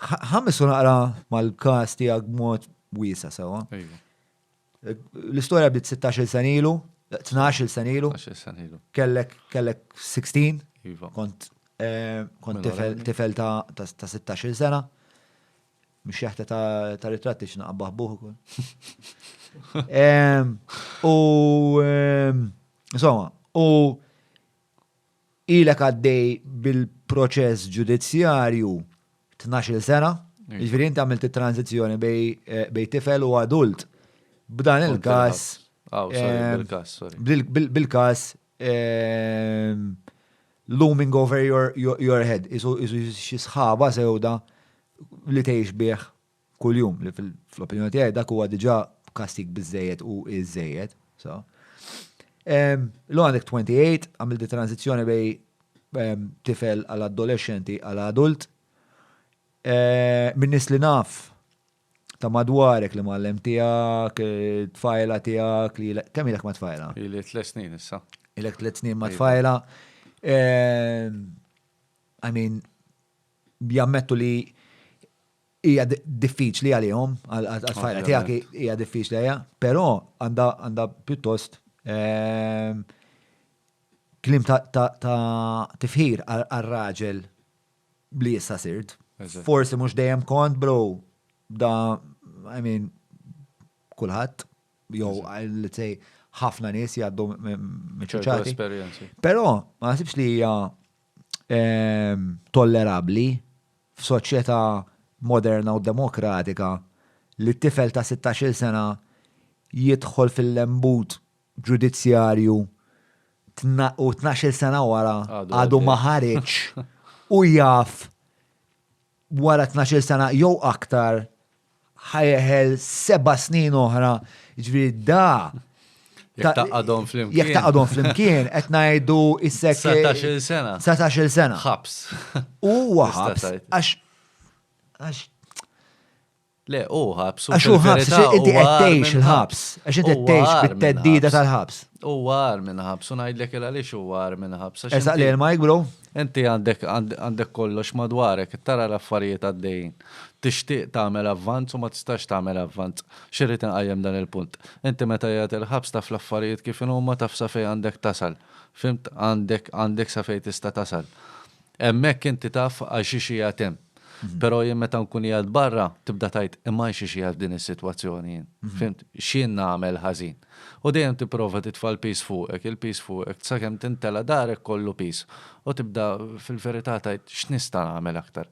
Ħames u naqra mal-kas tiegħek b'mod wiesa sewa. L-istorja bdiet 16 sen ilu, 12 sen ilu. Kellek kellek 16. Iva. Kont eh, kont tifel ta' 16 sena. Mux jaħta ta' ritratti x'naqbaħ buħ ukoll. U insomma, u Ilek għaddej bil-proċess ġudizzjarju tnax-il sena, jiġifieri inti għamilt it-tranżizzjoni bejn tifel u adult. B'dan il-każ. Aw, sorry, bil-każ, sorry. Bil-każ looming over your head, isu xi sħaba sewda li tgħix bih kuljum li fl-opinjoni tiegħi dak huwa diġà kastig biżejjed u iżejjed. So. Um, Lu għandek 28, għamil di tranzizjoni bej um, tifel għal adolescenti għal adult. E, Minnis li naf ta' madwarek li mallem tijak, eh, tfajla tijak, li kemm ilek ma' tfajla? Ilek tlet snin issa. Ilek tlet snin ma' tfajla. Ehm, I mean, jammettu li hija diffiċli għalihom, għat-tfajla tiegħek hija diffiċli għaliha, però għandha pjuttost kliem ta' tifħir għar-raġel li issa sirt. Forsi mhux dejjem kont bro da I mean kulħadd jew let's say ħafna nies jgħaddu miċċati. Però ma nasibx li hija tollerabbli f'soċjetà moderna u demokratika li tifel ta' sittax-il sena jidħol fil-lembut ġudizzjarju u tnax-il sena wara għadu ma ħareġx u jaf wara tnax-il sena jew aktar ħajeħel seba' snin oħra, ġifieri da Jekk taqadhom flimkien. Jekk taqadhom flimkien, qed ngħidu issek. 19-il sena. 19-il sena. Ħabs. Huwa ħabs għax għax Le, hu ħabs. Għax hu ħabs, inti qed tgħix il-ħabs, għax inti qed tgħix bit-teddida tal-ħabs. U għar minn ħabs, u ngħidlek il għaliex u għar minn ħabs. Eżaq li l-majk, bro? Inti għandek għandek kollox madwarek, tara l-affarijiet għaddejjin. Tixtieq tagħmel avvanz u ma tistax tagħmel avvanz. Xirrid inqajjem dan il-punt. Inti meta jgħat il-ħabs taf l-affarijiet kif huma taf sa fejn għandek tasal. Fimt għandek għandek sa fejn tista' tasal. Hemmhekk inti taf għal xiex qiegħed hemm. Però jien meta nkun qiegħed barra, tibda tgħid, imma għal xiex qiegħed f'din is-sitwazzjoni jien? Fhimt? X'jien nagħmel ħażin? U dejjem tipprova titfa' l-piż fuqek, il-piż fuqek, sakemm tintela' darek kollu piż. U tibda fil-verità tgħid, x'nista' nagħmel aktar?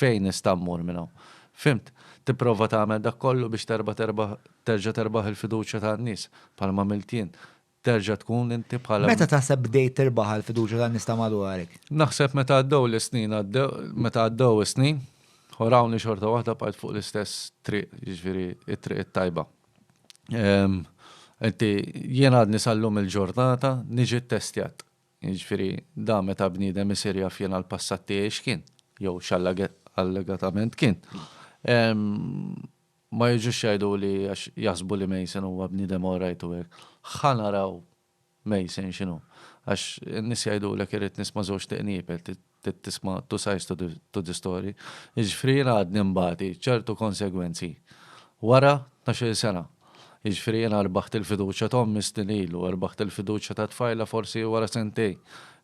Fejn nista' mmur minn hawn? Fhimt? Tipprova tagħmel dak kollu biex terġa' terbaħ il-fiduċja tan-nies, bħalma għamilt jien. terġa' tkun inti bħala. Meta taħseb bdejt tirbaħ għall-fiduċja tan-nies ta' madwarek? Naħseb meta għaddew l-snin, meta għaddew is-snin, u rawni xorta waħda bqajt fuq l-istess triq, jiġifieri t-triq it-tajba. Inti jien għadni sal-lum il-ġurnata niġi ttestjat. Jiġifieri dan meta bniedem isir jaf jiena l-passat tiegħi x'kien, jew x'allegatament kien. Ma jiġux jgħiduli għax jaħsbu li Mason huwa bniedem orajt u hekk. Ħa naraw Mason x'inhu. Għax in-nies jgħidulek irrid nisma' żewġ tiqniepel, trid tisma' two sides to the to the story. Jiġifieri jiena għadni nbati ċertu konsegwenzi wara tnax-il sena. Jiġifieri jiena rbaħt il-fiduċja ta' ommi snin ilu, rbaħt il-fiduċja ta' tfajla forsi wara sentejn.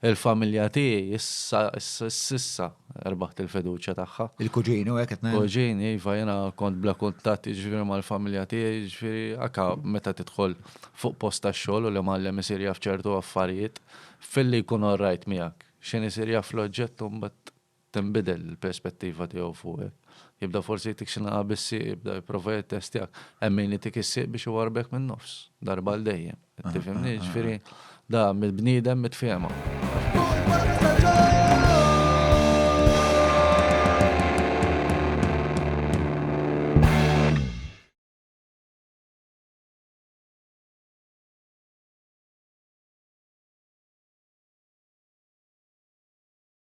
Il-familja tiegħi issa, issa, issa rbaħt il-fiduċja tagħha. Il-kuġini u hekk qed ngħid. Kuġini, iva, jiena kont bla kuntatt jiġifieri mal-familja tiegħi, jiġifieri anke meta tidħol fuq post tax-xogħol u l-imgħallem isir jaf ċertu affarijiet, filli jkun all right miegħek, x'inhu jsir jaf l-oġġett u mbagħad tinbidel il-perspettiva tiegħu fuqek. Jibda forsi jtik xi nagħa bis-sieq, jibda jipprova jittestjak. Hemm min itik is-sieq biex iwarrbek min-nofs, darba għal dejjem. Tifhimni? Jiġifieri da mill-bniedem mitfiehma.